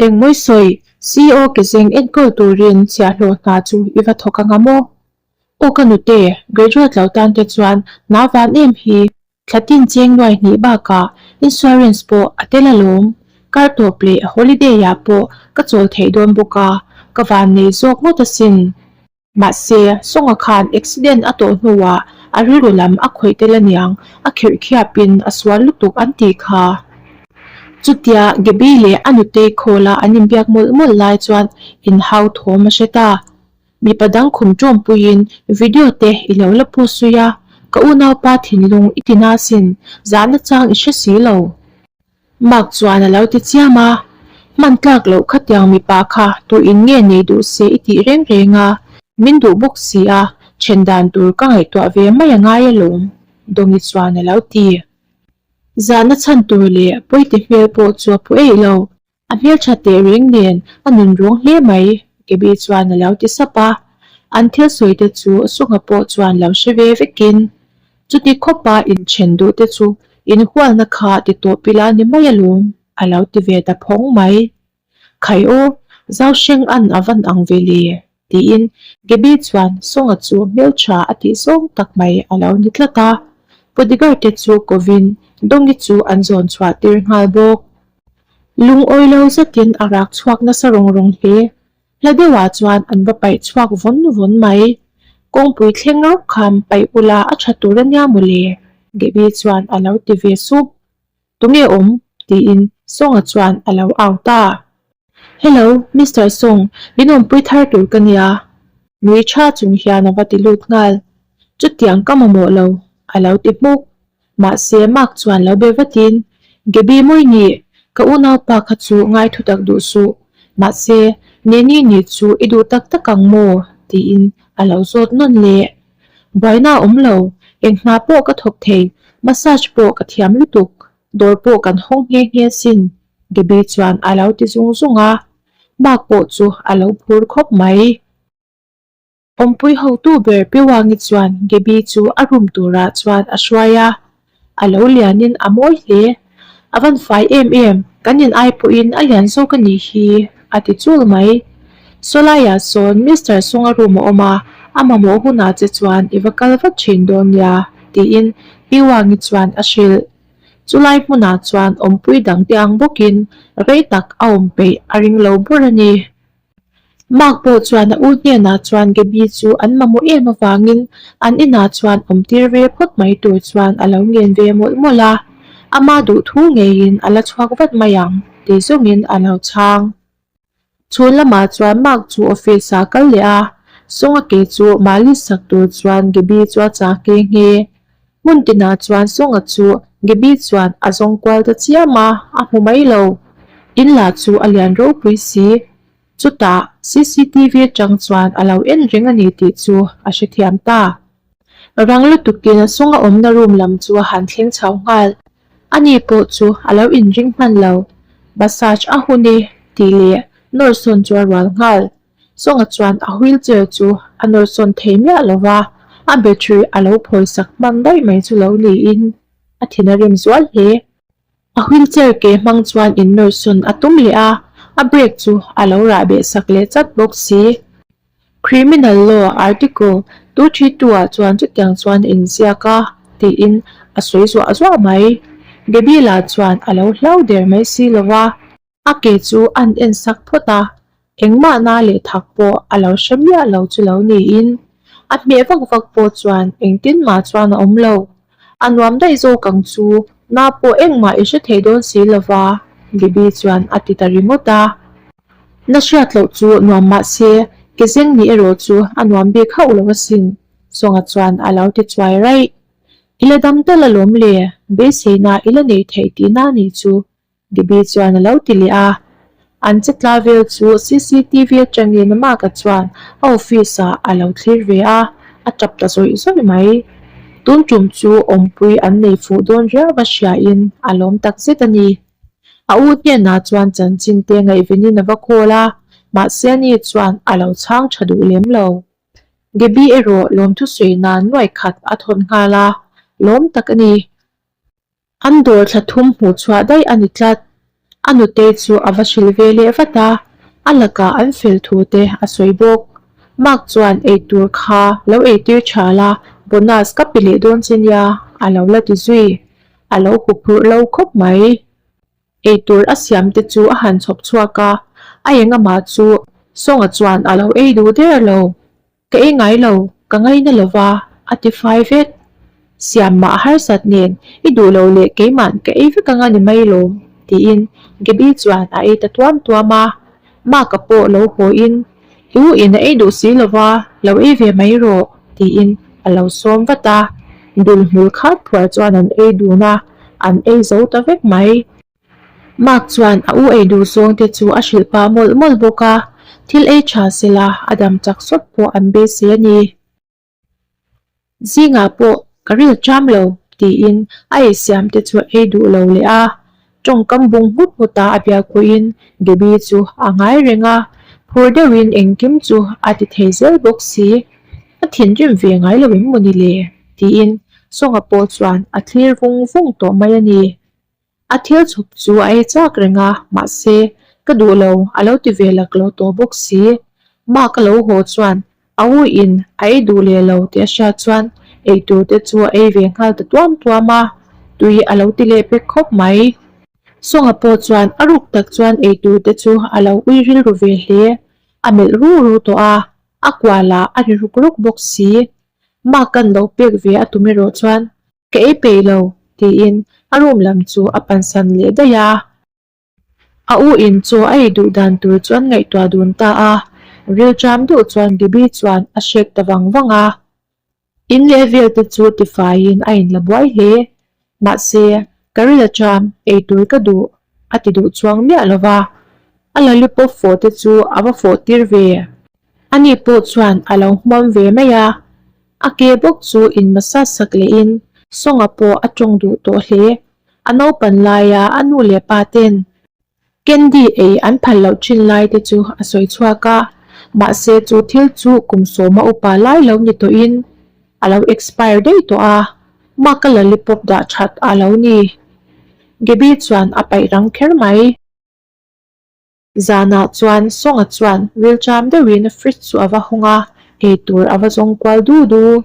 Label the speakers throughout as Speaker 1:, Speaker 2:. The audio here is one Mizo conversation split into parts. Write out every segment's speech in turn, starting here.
Speaker 1: Engmawi sawi, CEO ke zeng enkawl turin chhiah hlawh hna chu i va thawk a nga maw? Aw ka nute, graduate lo tan te chuan hna van em hi thla tin cheng nuai hnih bakah insurance pawh a tel alawm, kar tawp leh holiday-ah pawh ka chawl theih dawn bawk a, ka van nei zawk ngawt asin. Mahse, Songa khan accident a tawh hnuah a rilru lam a khawih tel a niang, a khirhkhiapin a sual lutuk an tih kha. Chutia Gabby leh a nu tei khawla an inbiak mawlh mawlh lai chuan in hau thawm a hre ta. Mipa dang khum tawmpuiin video te i lo la pawh suih a, ka unaupa thinlung i ti nasin zahna chang i hre si lo. Mark chuan a lo ti chiam a, Hman tlak loh khatiang mipa kha tui in nge nei duh se i tih reng reng a, min duh bawk si a, then dan tur ka ngaihtuah ve mai a ngai a lawm, Dongi chuan a lo ti. Zan a chhan tur leh pawite hmel pawh chu a phu eih lo, a hmeltha teh reng nen a nun ruang hle mai, Gabby chuan a lo ti sap a, an thil sawite chu a sawngah pawh chuan lo hre ve vekin Chuti khawpa inthen duh te chu inhualna kha ti tawh pila ni mai alawm a lo ti ve ta phawng mai. Khai aw, zau hreng an a van ang ve le, tiin Gaby chuan Sawngah chu hmeltha a tih zawng tak mai a lo ni tlat a. Podigar te chu kovin Dongi chu an zawn chhuah tir nghal bawk. Lungawilo zetin a rak chhuak nasa rawng rawng hle. Hla deuhah chuan an va paih chhuak vawn vawn mai. Kawngpui thleng rawk kha an paih ula a tha tur ania maw le? Debbie chuan a lo ti ve sup. Tunge awm? tiin Sawngah chuan a lo au ta. Hello, Mister Sawng. Minawmpui thar tur ka nia. Nui tha chung hian a va ti lut nghal. Chutiang ka mamawh lo, a lo ti hmuk. Mahse, Mark chuan lo be vatin, Gaby mawi nih, ka unaupa kha chu ngaithu tak duh suh. Mahse, Nanny nih chu i duh tak tak ang maw? tiin a lo zawt nawn le. Buaina awm lo, enghma pawh ka thawk thei, massage pawh ka thiam lutuk, dawr pawh kan hawng nghe nghe sin, Gaby chuan a lo ti zung zung a. Mark pawh chu a lo phur khawp mai. Awmpui hotu ber Piwangi chuan Gaby chu a rum turah chuan a hruai a, a lo lianin a mawi hle. A van fai em em, kan inai pawhin a lian zawk a nih hi, a ti chul mai. Saw laiah sawn Mister Sawng a rum a awm a, a mamawh hunah che chuan i va kal vat thin dawn nia, tiin Piwangi chuan a hrilh. Chu lai hmunah chuan Awmpui dangte ang bawkin rei tak a awm peih a ring lo bur a ni. Mark pawh chuan a u hnenah chuan Gabby chu an mamawh em avangin an inah chuan awm tir ve phawt mai tur chuan a lo ngen ve mawlh mawlh a, a ma duh thu ngeiin a la chhuak vat mai ang tih zawngin a lo chhang. Chhun lamah chuan Mark chu office a kal leh a, Sawngake chu mali sak tur chuan Gabby chu a chak nghe nghe. Hmun tinah chuan Sawngah chu Gaby chuan a zawng kual ta chiam a, a hmu mai lo. In lah chu a lian ropui si. Chutah cctv atang chuan a lo en reng a ni tih chu a hrethiam ta. Rang lutuk tina Sawnga awmna room lam chu a han thleng chho nghal. Ani pawh chu a lo inring hman lo. Massage a hun e tih leh nawrsawn chu a rual nghal. Sawngah chuan a wheelchair chu a nawrsawn thei miah lo va, a battery a lo phawi sak hmang daih mai chu lo niin a thin a rem zual hle. A wheelchair ke hmang chuan in nawrsawn a tum leh a, a brake chu a lo rah beh sak leh chat bawk si. Criminal Law Article two three two ah chuan chutiang chuan in ziak a tiin a sawi zuah zuah mai. Gebila chuan a lo hlau der mai si lo va. A ke chu an en sak phawt a, engmah na leh thak pawh a lo hre miah lo chu lo niin, a hmeh vak vak pawh chuan engtin ngah chuan a awm lo. A nuam daih zawk ang chu na pawh engmah i hre thei dawn si lo va, Bibi chuan a ti ta ringawt a. Na hriat loh chu nuam mah se, ke zeng nih erawh chu a nuam bik hauh lo asin, Sawngah chuan a lo ti chuai raih. I la dam ta la lawm le, beiseina i la nei thei tihna a nih chu, Debbie chuan a lo ti leh a, an che tla vel chu CCTV atangin a makah chuan a office ah a lo thlir ve a, a tap ta zawih zawih mai. Tun tum chu awmpui an nei fuh dawn riau va hriain a lawm tak zet a ni. A u hianah chuan chanchin te ngaihvenin a va call a, mahse ani chuan a lo chhang tha duh lem lo. Debbie erawh lawmthu sawi nan nuaih khat a thawt nghal a, lawm tak a ni. An dawr thla thum hmuh chhuah daih a ni tlat. A nutei chu a va hrilh ve leh vat a, a lakah an fel thu te a sawi bawk. Mark chuan eitur kha lo eitir tha la, bonus ka pi leh dawn che nia a lo la ti zui. A lo hup rur lo khawp mai. Eitur a siam te chu a han chhawp chhuak a, a eng amah chu Sawng-a chuan a lo ei duh der lo. Ka ei ngai lo, ka ngai na lova a ti fai vek. Siam mah harsat nen i duh lo leh keimahn ka ei vek ang a ni mai lo tiin Gaby chuan a ei ta tuam tuam a, Mark-a pawh lo hawi in, I u in a ei duh si lova, lo ei ve mai rawh tiin a lo sawm vat a, dul hmul khar phuar chuan an ei dun a, an ei zo ta vek mai. Mark chuan a u ei duh zuang te chu a hrilh pah mawlh mawlh bawk a, thil ei tha sela a dam chak sawt pawh an be si a ni. Zingah pawh ka ril ṭam lo, tiin a ei siam te chu a ei duh lo leh a, ṭawngkam bung nghut nghutah a bia khuhin Debbie chu a ngai reng a, phur deuhin engkim chu a ti thei zel bawk si, a thinrim ve ngai lo em maw ni le, tiin Sawngah pawh chuan a thlir vung vung tawh mai a ni. A thil chhawp chu a ei chak reng a, mahse, ka duh lo, a lo ti ve lak lo tawh bawk si. Mark a lo haw chuan, A u in a ei duh leh lo tih a hriat chuan ei tur te chu a ei ve nghal ta tuam tuam a, tui a lo ti leh pek khawp mai. Sawngah pawh chuan a ruk tak chuan ei tur te chu a lo ui rilru ve hle, a melh ru ru tawh a, a kualah a ri ruk ruk bawk si. Mark kan lo pek ve a tum erawh chuan, Ka ei peih lo, tiin a room lam chu a pansan leh daih a. A u in chu a ei duh dan tur chuan ngaihtuah dun ta a, vil ṭam duh chuan Bibi chuan a hriak ta vang vang a. In leh vel te chu tifaiin a in la buai hle, mahse, ka ri la ṭam, ei tur ka duh, a ti duh chuang miah lo va. A lollipop fawh te chu a va fawh tir ve. Ani pawh chuan a lo hmam ve mai a, a ke bawk chu in massage sak leh in sawngah pawh a tawng duh tawh hle. A naupan laia a nu leh pa ten candy ei an phal loh thin lai te chu a sawi chhuak a, mahse chu thil chu kum sawma upa lai lo ni tawh in a lo expire daih tawh a, mark a lollipop dah that a lo ni. Gaby chuan a paih rang kher mai. Zanah chuan Sawngah chuan rilṭam deuhin a fridge chu a va hawng a, eitur a va zawng kual du du.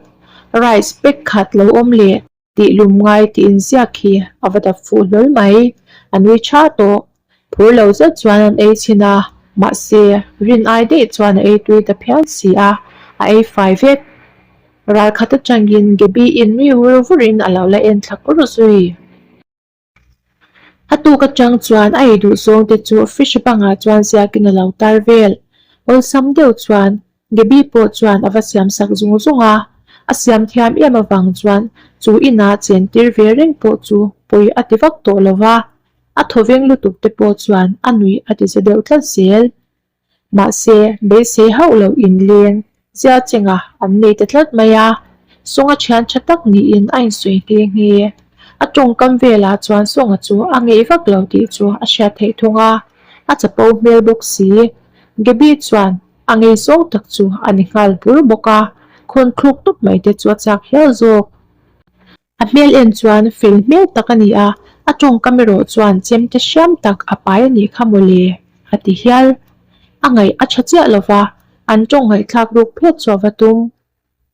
Speaker 1: Rice pack khat lo awm le tih lum ngai tih inziak hi a va dap fuh hlawl mai. A nui ṭha tawh. Phur lo zet chuan an ei chhin a, mahse, rin ai daih chuan a ei tui ta phian si a, a ei fai vek. Ral khat aṭangin Gaby-in riu vur vurin a lo la en thlak ru zui. A tuk atang chuan a ei duh zawng te chu fridge bangah chuan ziakin a lo tar vel. Awlsam deuh chuan Gaby pawh chuan a va siam sak zung zung a. A siam thiam em avang chuan chu inah chen tir ve reng pawh chu pawi a ti vak tawh lo va. A thawveng lutuk te pawh chuan a nuih a ti za deuh tlat zel. Mahse, beisei hauh lo in leng zia chengah an nei ta tlat mai a, Sawng a thian tha tak niin a insawi nghe nghe. A tawngkam velah chuan Sawng-a chu a ngei vak lo tih chu a hriat theih thung a, a chapo hmel bawk si. Gaby chuan a ngei zawng tak chu a ni nghal bur bawk a, khawn thluk tawp mai te chu a chak hial zawk. A hmel en chuan fel hmel tak a ni a, a tawngkam erawh chuan chem ta hriam tak a pai a nih kha maw le? a ti hial. A ngaih a tha chiah lo va, an tawng ngaihthlak ruk phet chu a va tum.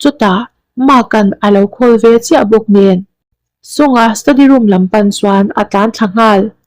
Speaker 1: Chutah Mark-a'n a lo khawl ve chiah bawk nen, Song-a study room lam pan chuan a tlan thla nghal.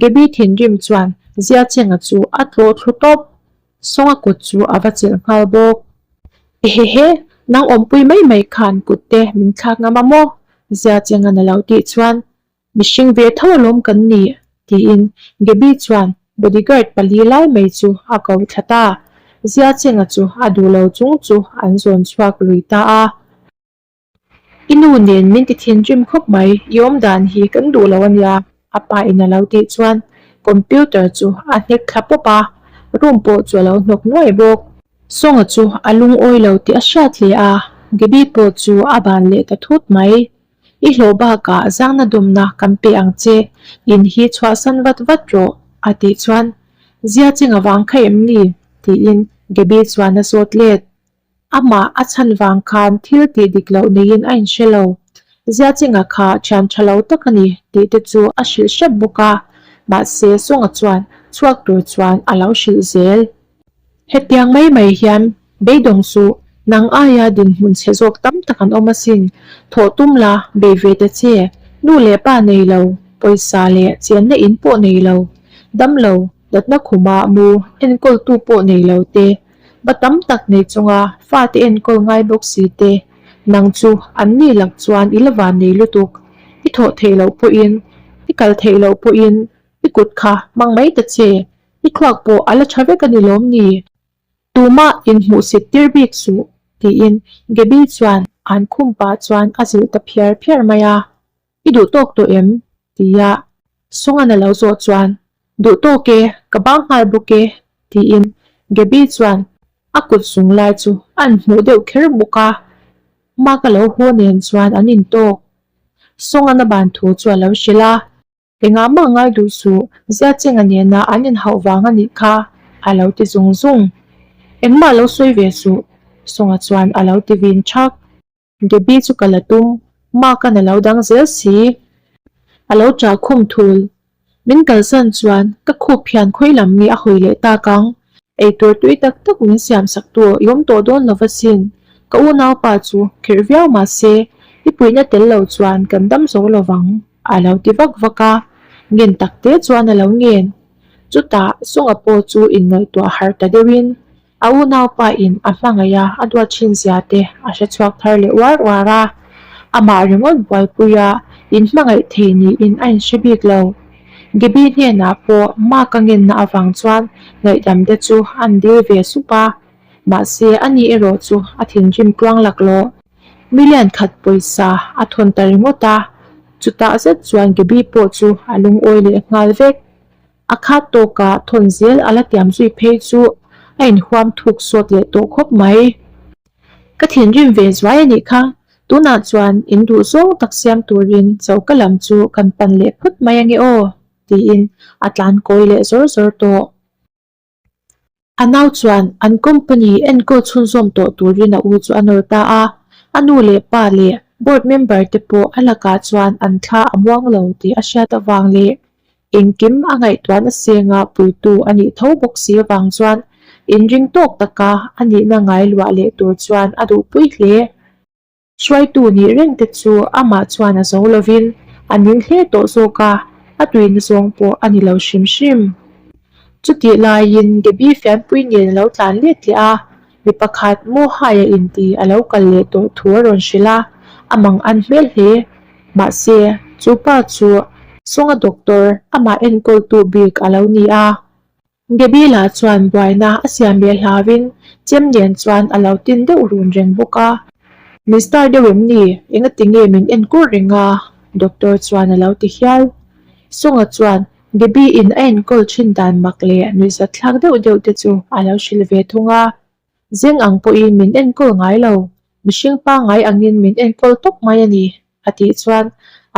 Speaker 1: Gaby thinrim chuan Ziachenga chu a tlawh thlu tawp. Sawnga kut chu a va chelh nghal bawk. Ehehe, nang awmpui mai mai khan kutte min thlak ngam a maw? Ziachenga na lo tih chuan mihring ve tho alawm kan ni, tiin Gaby chuan bodyguard pali lai mai chu a ko thla ta. Ziachenga chu a duhlo chung chu an zawn chhuak lui ta a. I nu nen min tithinrim khawp mai, i awmdan hi kan duh lo a nia, a pa in a lo tih chuan computer chu a hnek thla pawp a, room pawh chu a lo hnawk nuai bawk. Sawngah chu a lungawi lo tih a hriat hle a, Gaby pawh chu a ban leh ta thut mai. I hlawh bakah zangna dumna kan pe ang che, in hi chhuahsan vat vat rawh, a tih chuan, Zia cheng avang kha em ni? tiin Gaby chuan a sawt let. Amah a chhan vang khan thil tih dik loh neiin a inhre lo. Ziachengah kha thian tha lo tak a ni tih te chu a hrilh hrep bawk a, mahse Sawngah chuan chhuak tur chuan a lo hrilh zel. Hetiang mai mai hian beidawng chu nang aia dinhmun chhe zawk tam tak an awm asin, thawh tum la, bei ve ta che, nu leh pa nei lo, pawisa leh chianna in pawh nei lo, dam lo, Natna khuma mu enkawltu pawh nei lo te, va tam tak nei chunga fate enkawl ngai bawk si te, nang chu an ni lak chuan i lova nei lutuk, i thawh theih loh pawhin, i kal theih loh pawhin i kut kha hmang mai ta che, i thluak pawh a la tha vek a ni lawm ni? Tumah in hmuh sit tir bik suh, tiin Gaby chuan an khum pah chuan a zilh ta phiar phiar mai a. I duh tawk tawh em? tia Sawnghan a lo zawh chuan, Duh tawk e, ka bang nghal bawk e, tiin Gaby chuan a kut zung lai chu a an hmuh deuh kher bawk a, ma ka lo haw nen chuan an in tawk. Sawnghan a ban thu chu a lo hrilh a. Engah mah ngaiduh suh, Ziachenga nena an in hauh vang a nih kha, a lo ti zung zung. Engmah lo sawi ve suh, Sawngha chuan a lo ti vin chak. Debbie chu ka la tum, Mark a na lo dang zel si, a lo tra khum thul. Min kalsan chuan ka khup phian khawi lam mi a hawi leh tak ang, eitur tui tak tak min siam sak tu aw i awm tawh dawn lo vasin, ka unaupa chu kherh viau mahse i puihna tel lo chuan kan dam zo lo vang, a lo ti vak vak a, ngen tak te chuan a lo ngen, chutah Sunga pawh chu innawihtuah harh ta deuhin A unaupa in a hmangaih a a duat thin zia te a hre chhuak thar leh uar uar a, amah ringawt buaipui a in hmangaih thei niin a in hre bik lo. Gabby hnenah pawh Mark a ngenna avang chuan ngaihdam te chu a an dil ve sup a, mahse a ni erawh chu a thinrim tluang lak lo. Million khat pawisa a thawn ta ringawt a, chutah zet chuan Gabby pawh chu a lungawi leh nghal vek. A khat tawkah thawn zel a la tiam zui phei chu a inhuam thuk sawt leh tawh khawp mai. Ka thinrim ve zuai a nih kha, tunah chuan in duh zawng tak siam turin cho ka lam chu kan pan leh phut mai ange aw, tiin a tlankawi leh zawr zawr tawh. A nau chuan an company enkawl chhunzawm tawh turin a u chu a nawr ta a, a nu leh pa leh board member te pawh a lakah chuan an thla a muang lo tih a hriat avang leh engkim a ngaihtuan a senga puitu a nih tho bawk si avang chuan in ringtawk taka a nihna ngai luah leh tur chuan a duhpui hle. Hruaitu nih reng te chu amah chuan a zo lovin a ning hle tawh zawk a, a tuihna zawng pawh a ni lo hrim hrim. Chutih laiin Gaby fianpui nen a lo tlan let leh a, mi pakhat Moha-ia inti a lo kal leh tawh thu a rawn hrilh a, a mang an hmel hle. Mahse, chu pa chu. Sawng a doctor amah enkawltu bik a lo ni a, Gabriela chuan buaina a siam leh hlauin Chemlian chuan a lo tin deuh run reng bawk a. Mister deuh em ni? Enga tinge min en kur reng a? Doctor chuan a lo ti hial. Songa chuan Gaby-in a enkawl thin dan mak leh nuihzat thlak deuh deuh te chu a lo hrilh ve thung a. Zeng ang pawhin min enkawl ngai lo. Mihring pangngai angin min enkawl tawp mai a ni, a tih chuan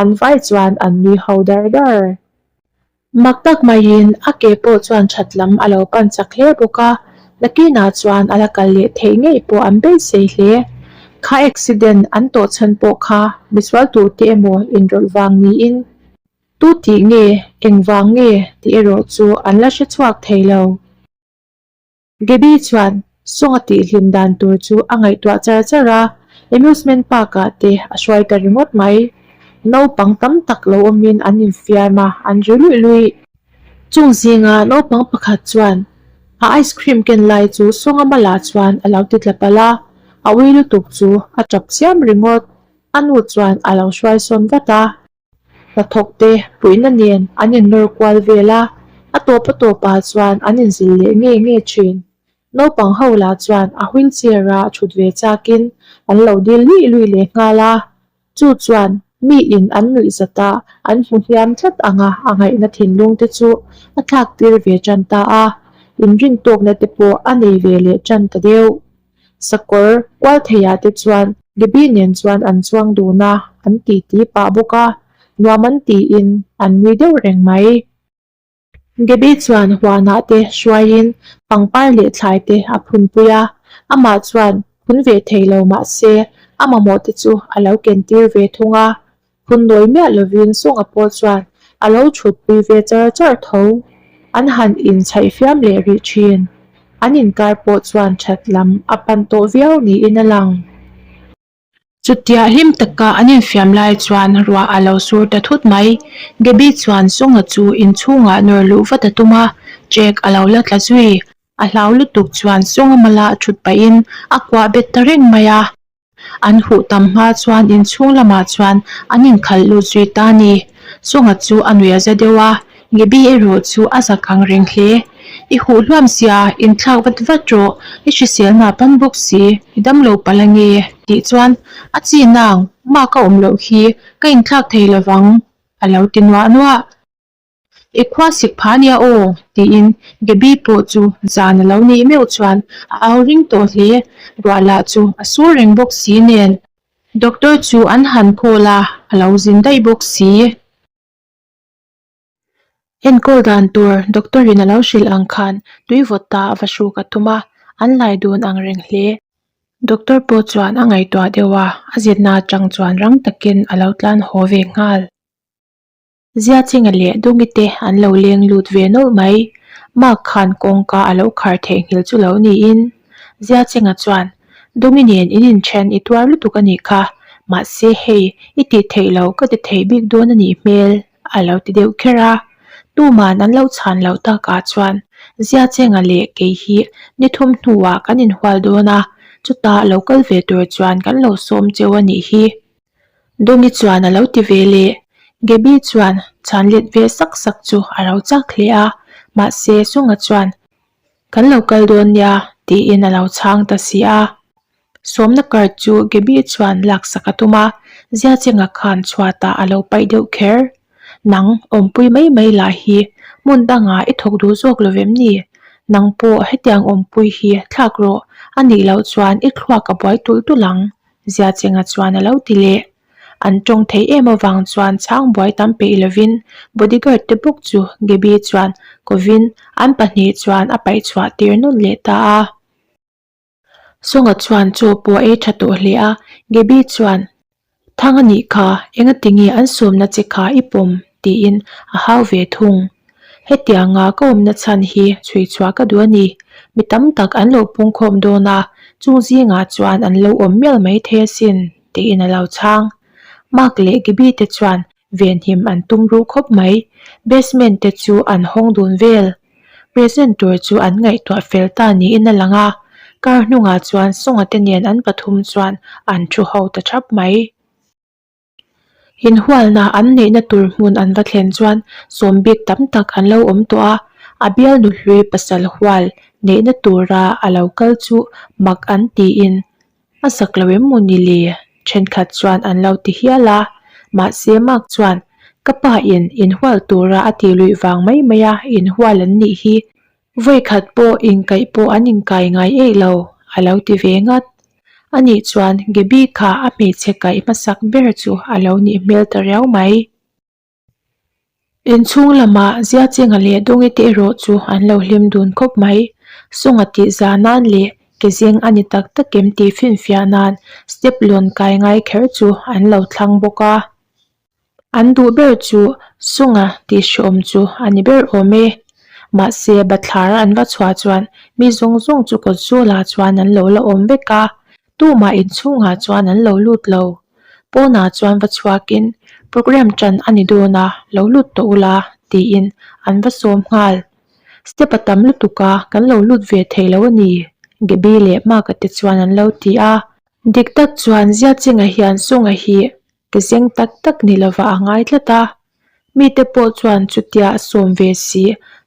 Speaker 1: an vai chuan an nui ho dar dar. Mak tak maiin a ke pawh chuan that lam a lo pan chak hle bawk a, Lucky-na chuan a la kal leh theih ngei pawh an beisei hle. Car accident an tawh chhan pawh kha misual tur te emaw inrawlh vang niin tu tih nge, engvang nge tih erawh chu an la hre chhuak thei lo. Gaby chuan Songa tih hlim dan tur chu a ngaihtuah char char a, Amusement Park ah te a hruai ta ringawt mai. Naupang tam tak lo awmin an infiam a, an ri luih luih. Chung zingah naupang pakhat chuan a ice cream ken lai chu Songa malah chuan a lo ti tla palh a, a ui lutuk chu a tap chiam ringawt. A nu chuan a lo hruai sawn vat a. Hnathawkte puihna nen an inrawl kual vel a, a tawp a tawp ah chuan an inzil leh ngei ngei thin. Naupang ho lah chuan a wheel chair ah a thut ve chak in an lo dil luih luih leh nghal a, chu chuan mi in an nuih zat ah an hmu hliam tlat ang a, a ngaihna thinlung te chu a thlak tir ve tan ta a, inrin tawkna te pawh a nei ve leh tan ta deuh. Sakawr kual theia te chuan Libby nen chuan an chuang dun a an titi pah bawk a, nuam an tiin an nui deuh reng mai. Gabby chuan huanah te hruaiin pangpar leh thlai te a phunpui a, amah chuan phun ve thei lo mah se a mamawh te chu a lo kentir ve thung a, Hun nawi miah lovin Sunga pawh chuan a lo thutpui ve char char tho. An han in chhaihfiam leh rih thin. An inkar pawh chuan that lam a pan tawh viau niin a lang. Chutiah hlim taka an infiam lai chuan ruah a lo sur ta thut mai. Debbie chuan Sunga chu inchhungah nawr luh vat a tum a, Jack a lo la tla zui. A hlau lutuk chuan Sunga mala a thut pahin a kuah bet ta reng mai a. An huh tam hma chuan inchhung lamah chuan an inkhalh lut zui ta ni. Chunga chu a nuih a za deuh a, Ngibi erawh chu a zak ang reng hle. I huh hluam sia, in thlak vat vat rawh, i hriselna pan bawk si, i dam lo pal ange, tih chuan a chin ang, Mah ka awm loh hi ka inthlak thei lovang, a lo ti nuah nuah. I khua sik pha nia aw, tiin Gaby pawh chu zan a lo neih meuh chuan a au ring tawh hle. Ruah lah chu a sur reng bawk si nen. Doctor chu an han call a, a lo zin daih bawk si. Enkawl dan tur doctor in a lo hrilh ang khan tui vawt ta a va hruk a thum a, an lai dun ang reng hle. Doctor pawh chuan a ngaihtuah deuh a, a zirna atang chuan rang takin a lo tlan haw ve nghal. Ziachenga leh Dungi te an lo leng lut ve nawlh mai. Mark khan kawngka a lo khar theih nghil chu lo niin, Ziachenga chuan, Dungi nen in inthen i tuar lutuk a nih kha, mahse hei i tih theih lo ka ti thei bik dawn a nih hmel, a lo ti deuh kher a. Tuman an lo chhan loh takah chuan, Ziachenga leh kei hi ni thum hnuah kan inhual dawn a, chutah lo kal ve tur chuan kan lo sawm cheu a nih hi. Dongi chuan a lo ti ve le. Gaby chuan chhan let ve sak sak chu a rau chak hle a, mahse Sawngah chuan, Kan lo kal dawn nia, tiin a lo chhang ta si a. Sawmna card chu Gaby chuan laksak a tum a, Ziachengah khan chhuatah a lo paih deuh kher. Nang awmpui mai mai lah hi hmun dangah i thawk duh zawk lo vem ni? Nang pawh hetiang awmpui hi thlak rawh, a nih loh chuan i thluak a buai tulh tulh ang. Ziachenga chuan a lo ti leh. An tawng thei em avang chuan chhangbuai tam peih lovin bodyguard te bawk chu Gaby chuan kovin an pahnih chuan a paih chhuah tir nawn leh ta a. Sawngah chuan chaw pawh ei tha tawh hle a. Gaby chuan. Thang a nih kha, engatinge an sawmna che kha i pawm? tiin a hau ve thung. Hetianga ka awmna chhan hi chhui chhuah ka duh a ni. Mi tam tak an lo pungkhawm dawn a, chung zingah chuan an lo awm mial mai thei asin, tiin a lo chhang. Mark leh Gibby te chuan venhim an tum ruh khawp mai. Basement te chu an hawng dun vel. Present tur chu an ngaihtuah fel ta niin a lang a, kar hnungah chuan Sawngate nen an pathum chuan an thu ho ta thap mai. Inhualna an neihna tur hmun an va thlen chuan sawmbik tam tak an lo awm tawh a, a bial nuhlui pasal hual neihna tura a lo kal chu mak an tiin a sak lo em maw ni le? Thenkhat chuan an lo ti hial a, mahse Mark chuan, Ka pa in inhual tura a tih luih vang mai mai a, inhual an nih hi Vawikhat pawh inkaih pawh an inkai ngai eih lo, a lo ti ve ngat. A nih chuan Gaby kha a hmeichhe kaih hmasak ber chu a lo nih hmel ta riau mai. In chhung lamah Ziachenga leh Dawngite erawh chu an lo hlim dun khawp mai. Sawngah tih za nan leh ke zeng a ni tak tak em tih finfiah nan step lawn kai ngai kher chu an lo thlang bawk a. An duh ber chu sunga tih hreawm chu a ni ber awm e. Mahse, Bathlar an va chhuah chuan mi zawng zawng chu kawt zawlah chuan an lo la awm vek a, tumah inchhungah chuan an lo lut lo. Pawnah chuan va chhuakin, Programme tan a ni dawn a, lo lut tawh u la, tiin an va sawm nghal. Step a tam lutuk a, kan lo lut ve thei lo a ni, Gaby leh Mark-a te chuan an lo ti a. Dik tak chuan Ziacheng-a hian sunga hi Ti seng tak tak ni lova a ngai tlat a, mite pawh chuan chutia sawm ve si,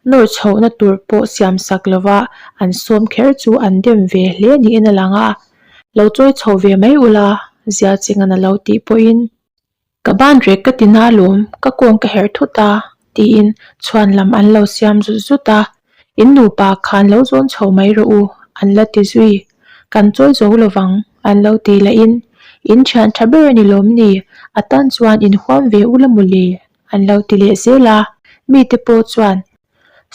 Speaker 1: nawr chhohna tur pawh siam sak lova an sawm kher chu an dem ve hle niin a lang a, lo chawi chho ve mai ula zia chengan a lo tih pawhin. Ka ban rek ka ti na lawm, ka kawng ka herh thut a, tiin chhuan lam an lo siam zut zut a, In nupa kha an lo zawn chho mai rawh u an la ti zui. Kan chawi zo lo vang an lo ti la in, In thian tha ber a ni lawm ni, a tan chuan in huam ve u la mu le an lo ti leh zel a. Mi te pawh chuan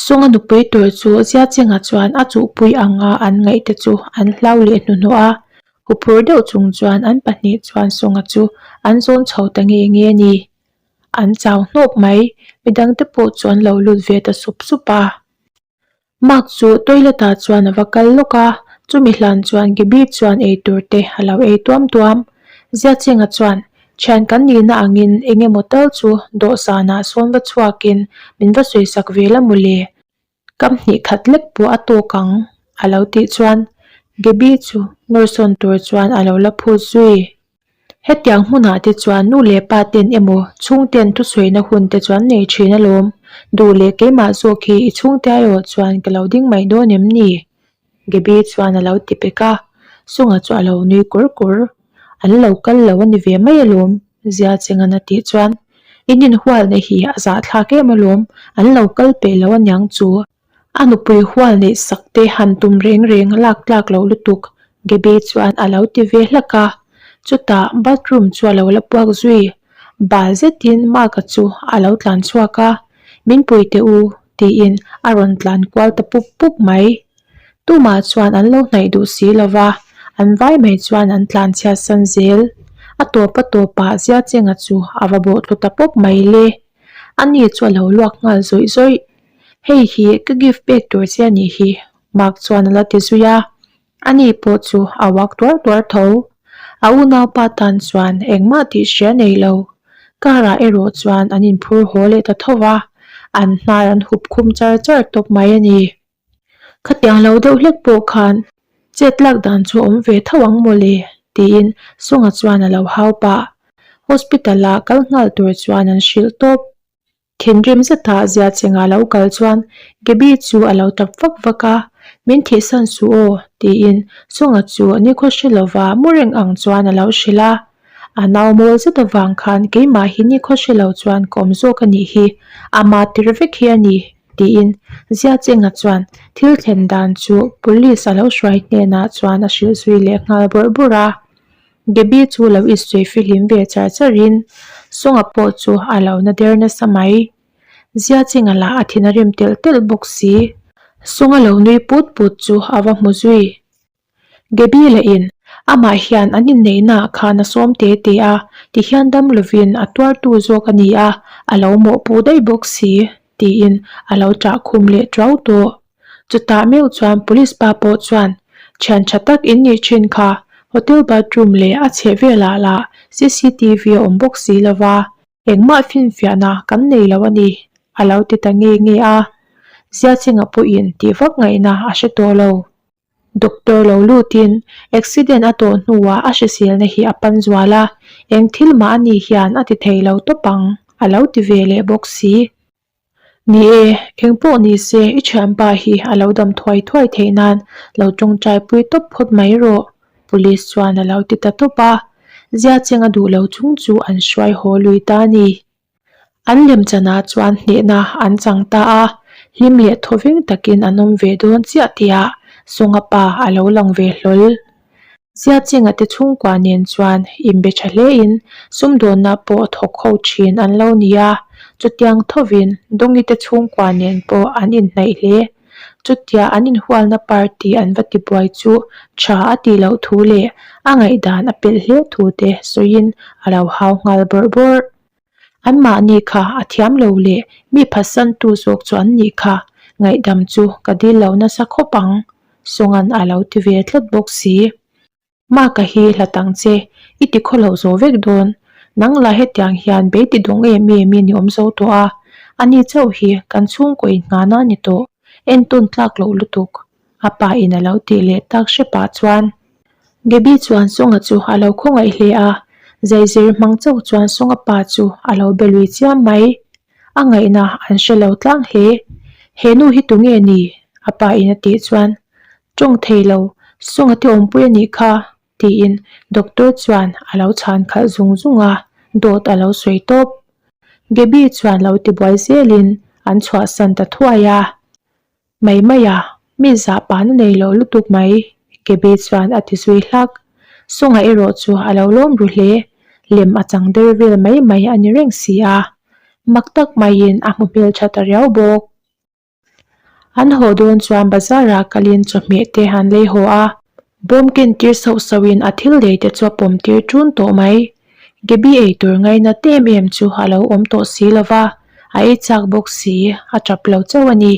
Speaker 1: Sawngha nupui tur chu zia chengah chuan a chuhpui ang a an ngaih te chu an hlau leh hnuhnawh a, huphur deuh chung chuan an pahnih chuan Sawngha chu an zawn chho ta nge nge ni. an chau hnawk mai, midang te pawh chu an lo lut ve ta sup sup a. Mark chu toilet ah chuan a va kal lawk a, chumi hlan chuan Gabby chuan ei tur te a lo ei tuam tuam. Ziachenga chuan, Thian kan nih na ang in eng emaw tal chu dawhsan ah sawn va chhuak in min va sawi sak ve la mawle. Ka hnih khat lek pawh a tawk ang, a lo tih chuan Gaby chu nawrsawn tur chuan a lo la phut zui. Hetiang hmunah te chuan nu leh pa ten emaw chhung ten thusawiina hun te chuan nei thin alawm duh leh keimah zawk hi i chhungte erawh chuan ka lo ding mai dawn em ni? Gaby chuan a lo ti pek a, Sungah chu a lo nui kur kur. An lo kal lo a ni ve mai alawm. Ziachengan a tih chuan, I nin hual neih hi a zahthlak em alawm, an lo kal pe lo a niang chu. A nupui hual neih sak te han tum reng reng a lak tlak loh lutuk. Gaby chuan a lo ti ve hlak a, Chutah bathroom chu a lo la puak zui. Bal zetin Mark-a chu a lo tlan chhuak a, Min pui teh u, tiin a rawn tlan kual ta pup pup mai. Tumah chuan an lo hnaih duh si lo va, an vai mai chuan an tlan chhiatsan zel. A tawpa tawpah Ziachenga chu a va bawhtlu ta pawp mai le. A ni chu a lo luak nghal zawih zawih. Hei hi ka gift pek tur che a nih hi, Mark chuan a la ti zui a. Ani pawh chu a uak tuar tuar tho. A unaupa tan chuan engmah tih hria nei lo. Karah erawh chuan an inphur haw leh ta tho va, an hnar an hup khum char char tawp mai a ni. Khatiang lo deuh hlek pawh khan chet lak dan chu a awm ve tho ang maw le tiin Sawngah chuan a lo hau pah. Hospital-a kal nghal tur chuan an hrilh tawp. Thinrim zeta Ziachengah lo kal chuan Gaby chu a lo tap vak vak a, Min thihsan suh aw, tiin Sawngah chu nikhaw hre lova mu reng ang chuan a lo hre la. A nau mawl zet avang khan keimah hi nikhaw hre lo chuan ka awm zawk a nih hi, a mahtir vek hi a ni, tiin Ziachengah chuan thil thlen dan chu Police a lo hruai hnenah chuan a hrilh zui leh nghal bawrh bawrh a. Gaby chu lo isui fihlim ve char char in, Sawngah pawh chu a lo na der nasa mai. Ziachinga lah a thin a rem telh telh bawk si. Sawnga lo nui put put chu a va hmu zui. Gaby la in, Amah hian an inneihna ah khan a sawm te te a, ti hian dam lovin a tuar tu zawk a ni a, a lo mawh pu daih bawk si. tiin a lo chah khum leh tau tawh. Chutah meuh chuan police pa pawh chuan thian tha tak in nih thin kha, hotel bathroom leh a chheh velah lah cctv a awm bawk si lo va, engmah finfiahna kan nei lo a ni, a lo ti ta ngei ngei a, Ziachengah pawhin tih vak ngaihna a hre tawh lo. Doctor lo lutin, Accident a tawh hnuah a hriselna hi a pan zual a, eng thil mah a nih hian a ti thei lo tawp ang, a lo ti ve leh bawk si. Ni e, eng pawh ni se i thianpa hi a lo dam thuai thuai theih nan lo tawngtai pui tawp phawt mai rawh, Police chuan a lo ti ta tawp a. Ziacheng a duh lo chung chu an hruai haw lui ta ni. An lem chanah chuan hnehna an chang ta a, hlim leh thaw veng takin an awm ve dawn chiah tihah Sawnga pa a lo lang ve hlawl. Ziachengah te chhungkua nen chuan inbe tha hlein sum dawnah pawh thawk ho thin an lo ni a, chutiang thovin Dawngite chhungkua nen pawh an inhnaih hle. Chutia an inhualna par tih an va tibuai chu tha a tih loh thu leh a ngaihdan a pelh hleu thu te sawiin a lo hau nghal bawrh bawrh. Anmahni kha a thiam lo leh mi phatsantu zawk chu an nih kha ngaihdam chu ka dil loh nasa khawp ang sawngan a lo ti ve tlat bawk si. Maka hi hla tang che, i ti khaw loh zo vek dawn. Nang lah hetiang hian beiti dawng em em i ni awm zo tawh a, a ni chauh hi kan chhungkawi nghah na ni tawh, en tawn tlak loh lutuk, a pa in a lo tih leh tak hre pah chuan. Gaby chuan Sawngah chu a lo khawngaih hle a, zai zir hmang chauh chuan Sawngah pa chu a lo be lui chiam mai. A ngaihna an hre lo tlang hle, he nu hi tunge ni? a pa in a tih chuan Tawng thei lo, Sunga te awmpui a nih kha, tiin Doctor chuan a lo chhan khalh zung zung a, dawt a lo sawi tawp. Gaby chuan lo ti buai zel in an chhuahsan ta thuai a, Mai mai a, mi zah pahna nei loh lutuk mai, Gaby chuan a ti zui hlak. Sunga erawh chu a lo lawm ru hle, lem a chang der vel mai mai a ni reng si a, mak tak mai in a hmu hmeltha ta riau bawk. An haw dawn chuan bazar ah kalin chawhmeh te an lei haw a. Bawmken tir sauh sauh in a thil dei te chu a pawm tir tun tawh mai. Gaby ei tur ngai na te em em chu a lo awm tawh si lo va, a ei chak bawk si, a tap lo chauh a ni.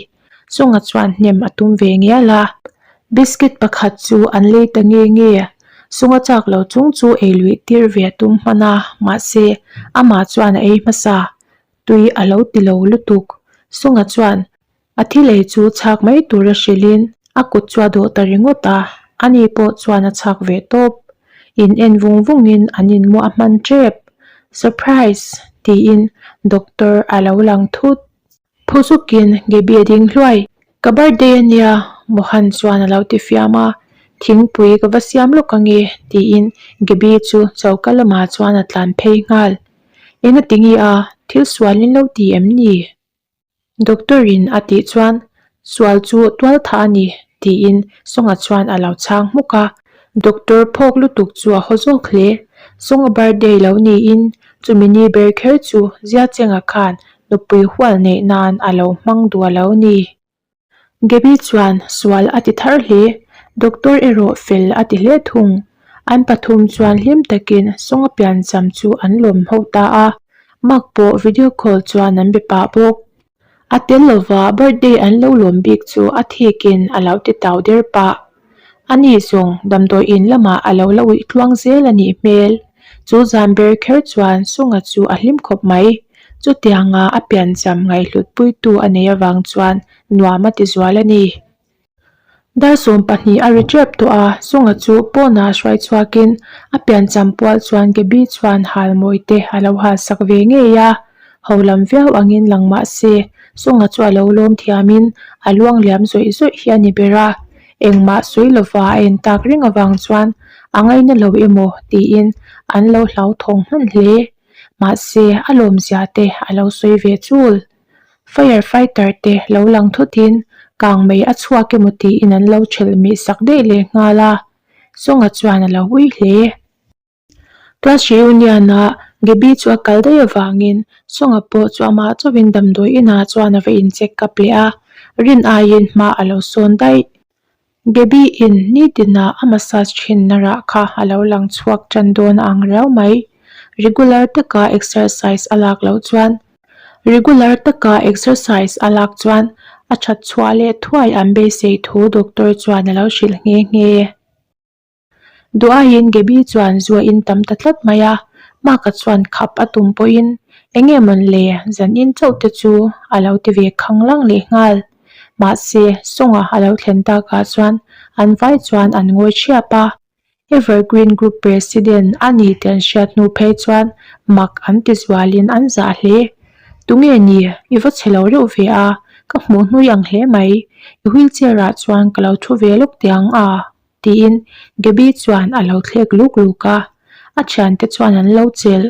Speaker 1: Sawngah chuan hnem a tum ve ngial a. Biscuit pakhat chu an lei ta nge nge. Sawng a chak lo chung chu ei luih tir ve a tum hman a, mahse, amah chuan a ei hmasa. Tui a lo ti lo lutuk. Sunga chuan a thi lei chu chhak mai tur a hrilhin a kut chu a dawh ta ringawt a, a ni pawh chuan a chhak ve tawp. In en vung vungin an inmuah a hman tep. Surprise! tiin doctor a lo lang thut. Phu zukin Gaby a ding hluai. Ka birthday a nia, Mohan chuan a lo ti fiam a, thingpui ka va siam lawk ange, tiin Gaby chu choka lamah chuan a tlan phei nghal. Eng a ti nge a, thil sualin lo ti em ni? Doctor in a tih chuan sual chu tual thah a ni, tiin Sawngah chuan a lo chhang hmuk a. Doctor phawk lutuk chu a haw zawk hle. Sunga birthday lo niin chumi ni ber kher chu Ziachenga khan nupui hual neih nan a lo hmang duah lo ni. Gaby chuan sual a ti thar hle. Doctor erawh fel a ti hle thung. An pathum chuan hlim takin Sunga piancham chu an lawmho ta a. Mark pawh video call chuan an be pah bawk. A tel lova birthday an lo lawm bik chu a thik in a lo ti tau der pah. A ni zung damdawi in lamah a lo la uih tluang zel a nih hmel. Chu zan ber kher chuan Sunga chu a hlim khawp mai. Chutianga a piancham ngaihhlutpuitu a nei avang chuan nuam a tizual a ni. Darsawm pahnih a ri tep tawh a, Sunga chu pawnah a hruai chhuakin a piancham pual chuan Gaby chuan hal mawite a lo hal sak ve ngei a. Ho lam viau angin lang mah se, Sunga chu a lo lawm thiamin a luang liam zawih zawih hi a ni ber a. Engmah sawi lova a en tak ring avang chuan a ngaina lo emaw tiin an lo hlauthawng hman hle. Mahse, a lawmzia te a lo sawi ve chul. Fire fighter te lo lang thutin kang mei a chhuak emaw tiin an lo ṭhelh meh sak daih leh nghal a, Sawngah chuan a lo ui hle. Class hrih union-a Gaby chu a kal daih avangin Sawngah pawh chu amah chauhin damdawi inah chuan a va incheck kap leh a, Rin aiin hma a lo sawn daih. Baby-in nitina a massage thinna rah kha a lo lang chhuak tan dawn a ang riau mai. Regular taka exercise a lak loh chuan. Regular taka exercise a lak chuan a that chhuah leh thuai an beisei thu doctor chuan a lo hrilh nghe nghe e. Duhaiin Gaby chuan zuaiin tam ta tlat mai a, Mark-a chuan khap a tum pawhin, Enge mawn le, zanin chauhte chu a lo ti ve khang lang leh nghal. Mahse, sawngah a lo thlen takah chuan an vai chuan an ngawi ṭhiap a. Evergreen Group President a ni tih an hriat hnu phei chuan Mark an tizualin an zah hle. Tunge ni, i va che lo reuh ve a, ka hmuh hnui ang hle mai. I wheelchair-ah chuan ka lo ṭhu ve lawk teh ang a. tiin Gaby chuan a lo thlek luk luk a. A thiante chuan an lo chel,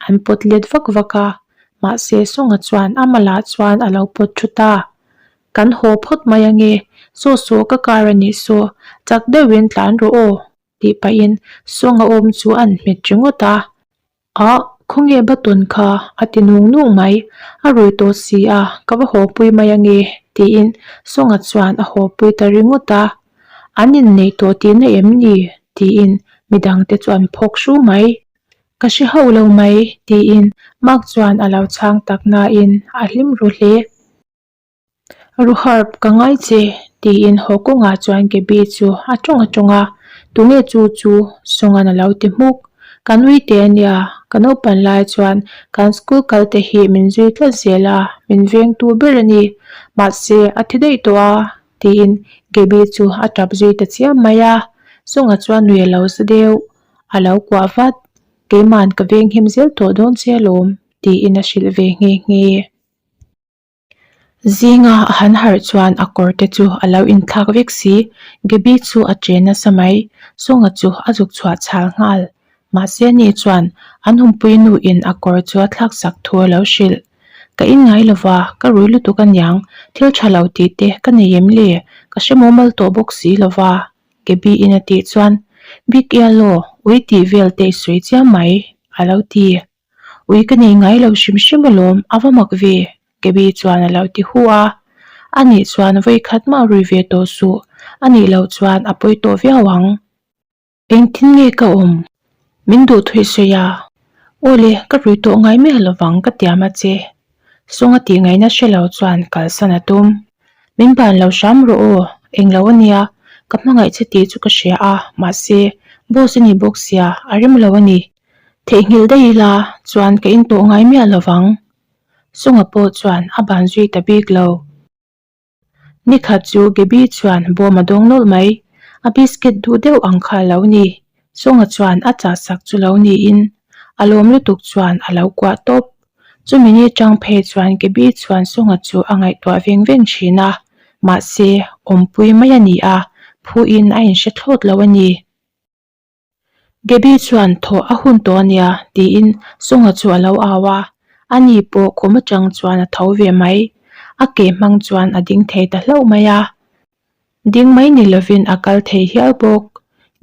Speaker 1: an pawt let vak vak a, mahse Sawngah chuan a malah chuan a lo pawt thu ta. Kan haw phawt mai ange, saw saw ka kar a nih saw, chak deuhin tlan rawh aw tih pahin Sawngah awm chu a an hmet ringawt a. Aah, khawnge Batawn kha? a ti nung nung mai. A rawi tawh si a, ka va haw pui mai ange, tiin Sawngah chuan a haw pui ta ringawt a. An inneih tawh tihna em ni? tiin midang te chuan phawk hru mai. Ka hre hauh lo mai, tiin Mark chuan a lo chhang tak nain a hlim ru hle. Ruharp ka ngai che, tiin haw kawngah chuan Gaby chu a ṭawng a ṭawng a, Tunge chu chu? Sawnghan a lo ti hmuk. Kan uite a nia, ka naupan lai chuan kan school kalte hi min zui tlat zel a, min vengtu ber a ni. Mahse, a thi daih tawh a, tiin Gaby chu a ṭap zui ta chiam mai a, Sawngha chuan nui a lo sa deuh, a lo kuah vat, keima'n ka venghim zel tawh dawn che alawm, tiin a hrilh ve nghe nghe. Zinga a han harh chuan a kawr te chu a lo inthlak vek si. Gaby chu a ṭe nasa mai. Sawngah chu a zuk chhuah chhal nghal. Mahse ni chuan an humpui nu in a kawr chu a thlak sak thu a lo hrilh. Ka in ngai lo va, ka rui lutuk a niang. Thil ṭha lo ti te ka nei em le? Ka hre mumal tawh bawk si lo va, Gaby in a tih chuan. Bik ial aw, ui tih vel te i sawi chiang mai, a lo ti. Ui ka nei ngai lo hrim hrim alawm, a va mak ve. Gaby chuan a lo ti huh a. A nih chuan vawi khat mah rui ve tawh suh, a nih loh chuan a pawi tawh viau ang. Engtin nge ka awm? Min duh thawih sawi a. Aw le, ka rui tawh ngai miah lovang ka tiam a che. Sawng a tih ngaihna hre lo chuan kalsan a tum. Min ban lo hram rawh aw, eng lo a nia, ka hmangaih che tih chu ka hria a, mahse, boss a ni bawk sia, a rim lo a ni. Theihnghilh daih ila chuan ka intawh ngai miah lo vang. Sunga pawh chuan a ban zui ta bik lo. Nikhat chu Gaby chuan bawm a dawng nawlh mai. A biscuit duh deuh ang kha lo ni. Sunga chuan a chahsak chu lo niin a lawm lutuk chuan a lo kuah tawp. Chumi ni chang phei chuan Gaby chuan Sunga chu a ngaihtuah veng veng thin a. Mahse, awmpui mai a ni a, phuin a inhre thlawt lo a ni. Debbie chuan thaw a hun tawh a nia tiin Sawngha chu a lo au a, a ni pawh khum atang chuan a tho ve mai. A ke hmang chuan a ding thei ta hlauh mai a, ding mai ni lovin a kal thei hial bawk.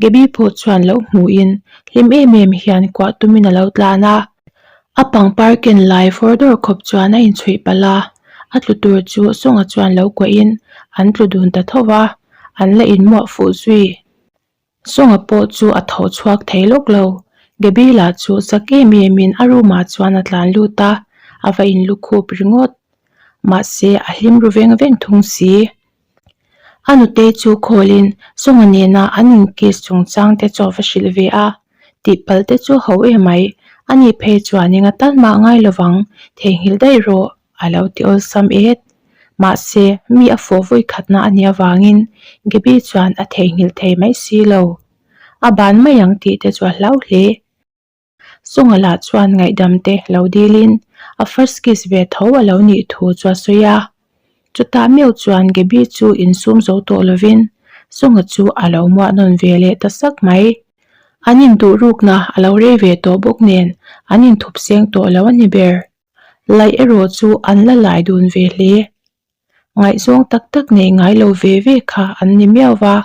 Speaker 1: Debbie pawh chuan lo hmuhin hlim em em hian kuah tumin a lo tlan a. A pangpar ken lai fawr dawr khawp chuan a inchhuih palh a, a tlu tur chu Sawngha chuan lo kuahin an tlu dun ta tho va, an la inmuah fuh zui. Sawngah pawh chu a tho chhuak thei lawk lo. Gabriela chu sak em em in a room ah chuan a tlan lut a, a va in lukhup ringawt. Mahse a hlim ru veng veng thung si. A nute chu call in Sawnga nena an in kiss chung chang te chu a va hrilh ve a, tihpal te chu ho emai, ani phei chuan eng a tan mah ngai lovang, theihnghilh daih rawh. A lo ti awlsam e. Mahse, mi a fuh vawi khatna a nih avangin Gaby chuan a theihnghilh thei mai si lo. A ban mai ang tih te chu a hlau hle. Sawngah lah chuan ngaihdam te lo dilin a first kiss ve tho a lo nih thu chu a sawi a. Chutah miau chuan Gaby chu insum zo tawh lovin Sawngah chu a lo muah nawn ve leh ta sak mai. An induhrukna a lo rei ve tawh bawk nen an inthupseng tawh lo a ni ber. Laih erawh chu an la lai dun ve hle. Ngaihzawng tak tak nei ngai lo ve ve kha an ni miau va,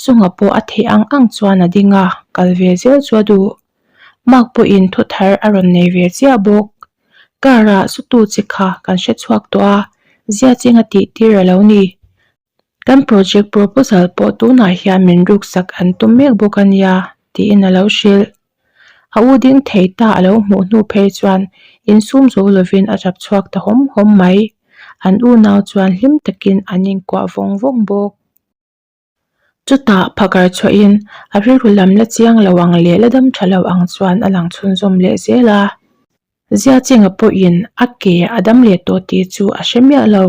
Speaker 1: Sunga pawh a theh ang ang chuan a ding a, kal ve zel chu a duh. Mark pawhin thu thar a rawn nei ve chiah bawk. Car-ah sutu che kha kan hre chhuak tawh a, Ziachinga tihtir a lo ni. Kan project proposal pawh tunah hian min ruksak an tum mek bawk a nia, tiin a lo hrilh. A u ding thei ta a lo hmuh hnu phei chuan insum zo lovin a rap chhuak ta hawm hawm mai. An unau chuan hlim takin an inkuah vawng vawng bawk. Chutah phagar chhuahin a rilru lam la chiang lo ang leh la dam tha lo ang chuan a lang chhunzawm leh zel a. Ziachenga pawhin a ke a dam leh tawh tih chu a hre miah lo.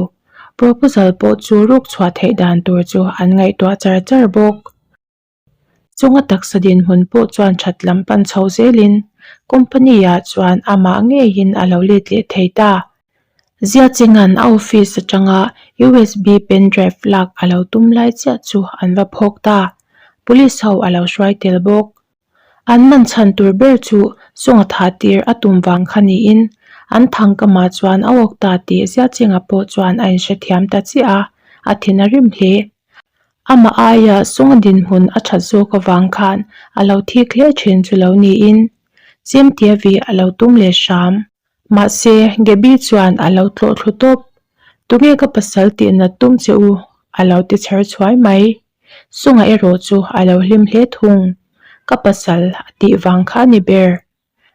Speaker 1: Proposal pawh chu rukchhuah theih dan tur chu an ngaihtuah char char bawk. Chunga taksa dinhmun pawh chuan that lam pan chho zelin company-a chuan amah ngeiin a lo let leh thei ta. Ziachenga'n a office atanga USB pen drive lak a lo tum lai chiah chu an va phawk ta. Police ho a lo hruai tel bawk. An man chhan tur ber chu Sawngah thah tir a tum vang kha niin an thangkamah chuan a awk ta tih Ziachengah pawh chuan a inhrethiam ta chiah a, a thin a rim hle. Amah aia Sawngah dinhmun a that zawk avang khan a lo thik hle thin chu lo niin Cemtia vih a lo tum leh hram. Mahse, Gabby chuan a lo tlawh thlu tawp. Tunge ka pasal tih na tum che u, a lo ti chher chhuai mai. Sungah erawh chu a lo hlim hle thung. Ka pasal a tih vang kha a ni ber.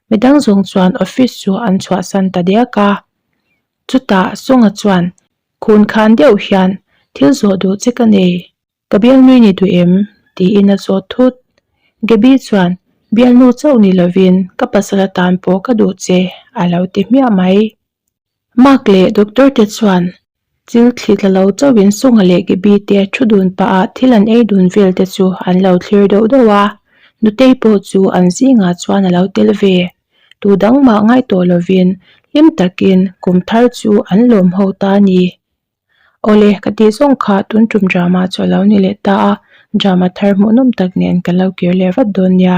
Speaker 1: Midang zawng chuan office chu an chhuahsan ta diak a. Chutah Sunga chuan, Kun khan deuh hian thil zawh duh che ka nei. Ka bial nui ni duh em? tiin a sawt thut. Gabby chuan, Bial nu chauh ni lovin ka pasala tan pawh ka duh che, a lo ti hmiah mai. Mark leh Doctor te chuan thil thli tla lo chauhin Sawngha leh Gabby te thu dun paha thil an ei dun vel te chu an lo thlir deuh deuh a, Nutei pawh chu an zingah chuan a lo tel ve. Tu dang mah ngaih tawh lovin hlim takin kum thar chu an lawmho ta ni. Awle, ka tih zawng kha tun tum drama chu a lo ni leh ta a, drama thar hmuhnawm tak nen ka lo kir leh vat dawn nia.